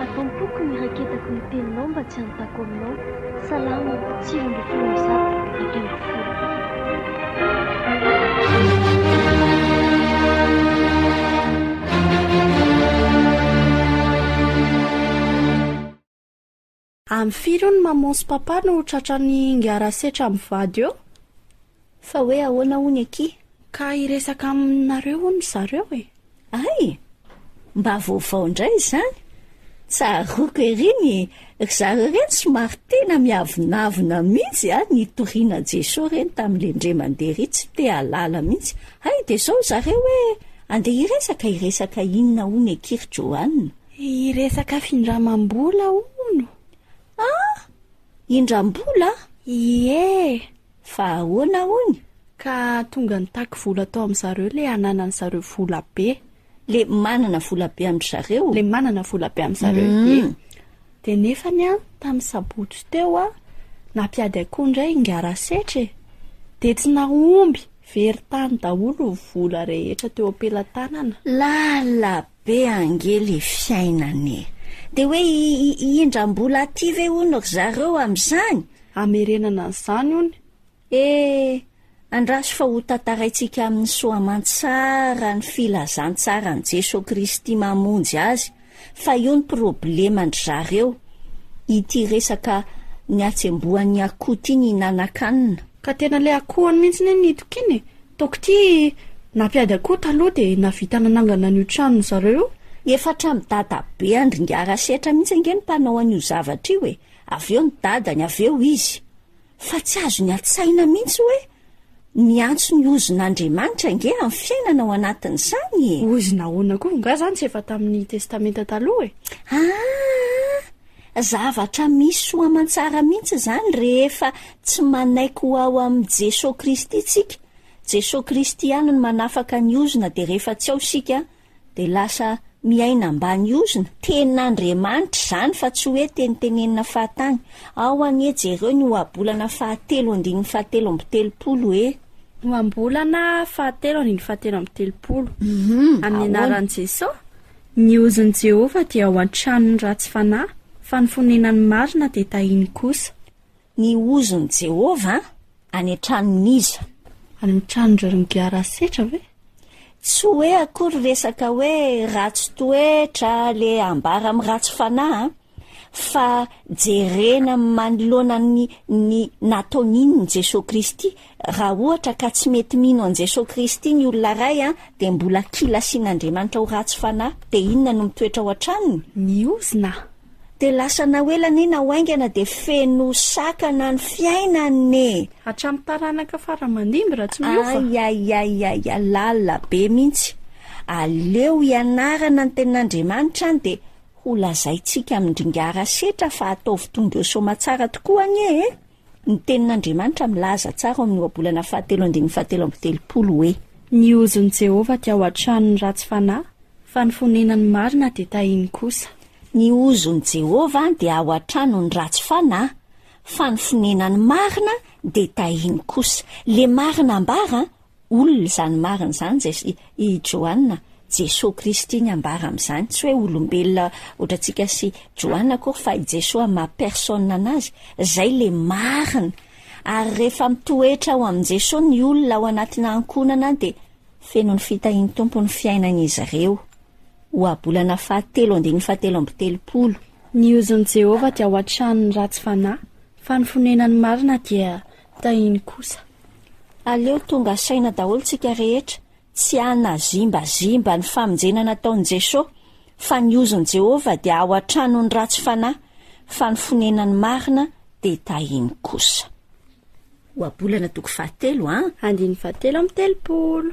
Atao am-poko ny raketako ny teninao mba tsy hanontako aminao. Salamo, sivy ambin'ny folo amby zato, dimy ambin'ny folo. Am firy io ny maman sy papa no tratrany ngara setra am vady eo? Fa hoe ahoana hono aky? Ka hiresaka aminareo hono zareo e! Hay! Mba vaovao indray izany! Tsaroako ery ny ry zareo ireny somary tena miavonavona mihitsy a! Nitoriana Jesoa ireny tamin'ilay ndre mandeha ery tsy te halala mihitsy. Hay dia izao ry zareo hoe andeha hiresaka hiresaka inona hono aky ry Johanna? Hiresaka findramam-bola hono. Ah! Indram-bola? Ie! Fa ahoana hono? Ka tonga nitaky vola tao amin-dry zareo ilay ananan'ny zareo vola be. Le manana vola be amin-dry zareo? Le manana vola be amin-dry zareo, ie. Hum. Dia nefany an, tamin'ny sabotsy teo an, nampiady akoho indray i Ngarasetra e. Dia tsy nahomby, very tany daholo ny vola rehetra teo am-pelatanana. Lala Be ange le fiainana e! De hoe i indrambola aty ve hono ry zareo amin'izany? Hamerenana an'izany hono e! Andraso fa ho tantaraintsika amin'ny soa aman-tsara ny filazantsaran'i Jesoa Kristy mamonjy azy fa io ny probleman-dry zareo, ity resaka nihatsembohan'ny akoho ity nihinan-kanina. Ka tena le akohony mihitsy anie nitokiana e! Toko ty nampiady akoho taloha de navita nanangana an'io tranony zareo io. Efa hatramin'ny dadabe andringara setra mihitsy ange ny mpanao an'io zavatra io e, avy eo ny dadany, avy eo izy. Fa tsy azony an-tsaina mihitsy hoe miantso ny ozon'Andriamanitra ange amin'ny fiainana ao anatin'izany e! Ozona ahoana koa? Nga zany tsy efa tamin'ny testamenta taloha e? Aa! Zavatra misy soa aman-tsara mihitsy izany rehefa tsy manaiky ho ao amin'i Jesoa Kristy isika, Jesoa Kristy ihany no manafaka ny ozona dia rehefa tsy ao isika dia lasa miaina ambany ozona, tenin'Andriamanitra izany fa tsy hoe tenitenenina fahatany, ao anie jereo ny ohabolana fahatelo andininy fahatelo amby telopolo hoe. Ohambolana fahatelo andininy fahatelo amby telopolo, amin'ny anaran'i Jesoa. Ny ozon'i Jehovah dia ao an-tranon'ny ratsy fanahy, fa ny fonenan'ny marina dia tahiny kosa. Ny ozon'i Jehovah any an-tranon'iza? Any an-tranon'ireo nigiara asetra ve? Tsy hoe akory resaka hoe ratsy toetra le ambara amin'ny ratsy fanahy an! fa jerena manoloana ny ny nataony iny ny Jesoa Kristy, raha ohatra ka tsy mety mino an'i Jesoa Kristy ny olona iray an, dia mbola kila asian'Andriamanitra ho ratsy fanahy, dia inona no mitoetra ao an-tranony? Ny ozona. Dia lasa na ho ela anie na ho haingana dia feno sakana ny fiainany e! Hatramin'ny taranaka fara aman-dimby raha tsy miova. Aiaiaiaia, lalina be mihitsy. Aleo ianarana ny tenin'Andriamanitra an dia. Ho lazaintsika amin-dringara setra fa ataovy tonga eo soamatsara tokoa anie e! Ny Tenin'Andriamanitra milaza tsara ao amin'ny Ohabolana fahatelo andininy fahatelo amby telopolo hoe. Ny hozon'i Jehovah dia ao an-tranon'ny ratsy fanahy, fa ny fonenan'ny marina dia tahiny kosa. Ny hozon'i Jehovah dia ao an-tranon'ny ratsy fanahy, fa ny fonenan'ny marina dia tahiny kosa. Ilay marina ambara Olona izany marina izany Jes i Joanna, Jesoa Kristy ny ambara amin'izany, tsy hoe olombelona ohatrantsika sy Joanna akory fa i Jesoa ma personne anazy, izay le marina, ary rehefa mitoetra ao amin'i Jesoa ny olona ao anatina ankohonana de feno ny fitahian'ny Tompo ny fiainan'izy ireo. Ohabolana fahatelo andininy fahatelo amby telopolo. Ny ozon'i Jehovah dia hoatran'ny ratsy fanahy, fa ny fonenany marina dia Tahiny kosa. Aleo tonga saina daholo tsika rehetra tsy hanazimbazimba ny famonjena nataon'i Jeso, fa ny ozon'i Jehovah dia ao an-tranon'ny ratsy fanahy, fa ny fonenan'ny marina dia tahiny kosa. Ohabolana toko fahatelo an. Andininy fahatelo amby telopolo.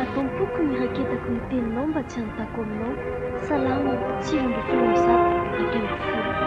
Atao am-poko ny raketako ny teninao mba tsy hanontako aminao. Salamo, sivy ambin'ny folo amby zato, ampy amby folo.